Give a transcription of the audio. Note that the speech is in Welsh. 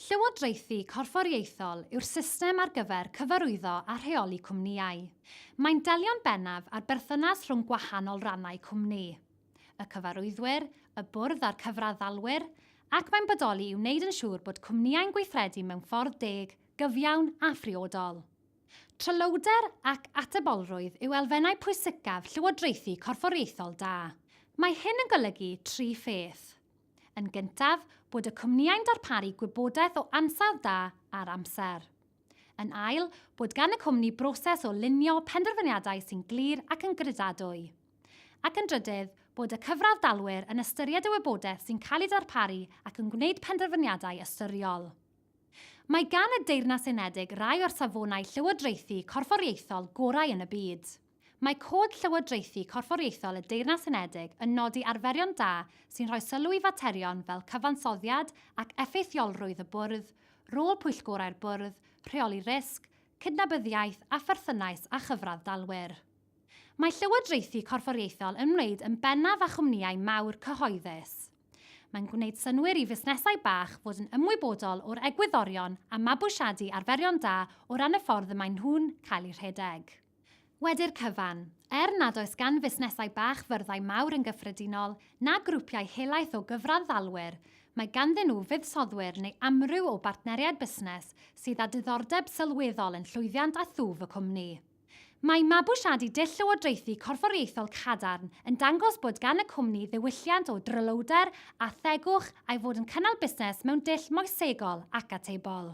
Llywodraethu corfforaethol yw'r system ar gyfer cyfarwyddo a rheoli cwmnïau. Mae'n delio'n bennaf â'r berthynas rhwng gwahanol rannau cwmni, y cyfarwyddwyr, y bwrdd a'r cyfraddalwyr, ac mae'n bodoli i wneud yn siŵr bod cwmnïau'n gweithredu mewn ffordd deg, gyfiawn a phriodol. Tryloywder ac atebolrwydd yw elfennau pwysicaf llywodraethu corfforaethol da. Mae hyn yn golygu tri pheth. Yn gyntaf, bod y cwmnïau'n darparu gwybodaeth o ansawdd da ar amser. Yn ail, bod gan y cwmni broses o lunio penderfyniadau sy'n glir ac yn gredadwy. Ac yn drydydd, bod y cyfradd-dalwyr yn ystyried y wybodaeth sy'n cael ei darparu ac yn gwneud penderfyniadau ystyriol. Mae gan y Deyrnas Unedig rai o'r safonau llywodraethu corfforiaethol gorau yn y byd. Mae Cod Llywodraethu Corfforaethol y Deyrnas Unedig yn nodi arferion da sy'n rhoi sylw i faterion fel cyfansoddiad ac effeithiolrwydd y Bwrdd, rôl pwyllgorau'r Bwrdd, rheoli risg, cydnabyddiaeth a pherthynais â chyfradd dalwyr. Mae Llywodraethu Corfforaethol yn wneud yn bennaf â chwmnïau mawr cyhoeddus. Mae'n gwneud synnwyr i fusnesau bach fod yn ymwybodol o'r egwyddorion a mabwysiadu arferion da o ran y ffordd y maen nhw'n cael eu rhedeg. Wedi'r cyfan, er nad oes gan fusnesau bach fyrddau mawr yn gyffredinol, na grwpiau helaeth o gyfranddalwyr, mae ganddyn nhw fuddsoddwyr neu amryw o bartneriaid busnes sydd â diddordeb sylweddol yn llwyddiant a thwf y cwmni. Mae mabwysiadu dull llywodraethu corfforiaethol cadarn yn dangos bod gan y cwmni ddiwylliant o dryloywder a thegwch a'i fod yn cynnal busnes mewn dull moesegol ac atebol.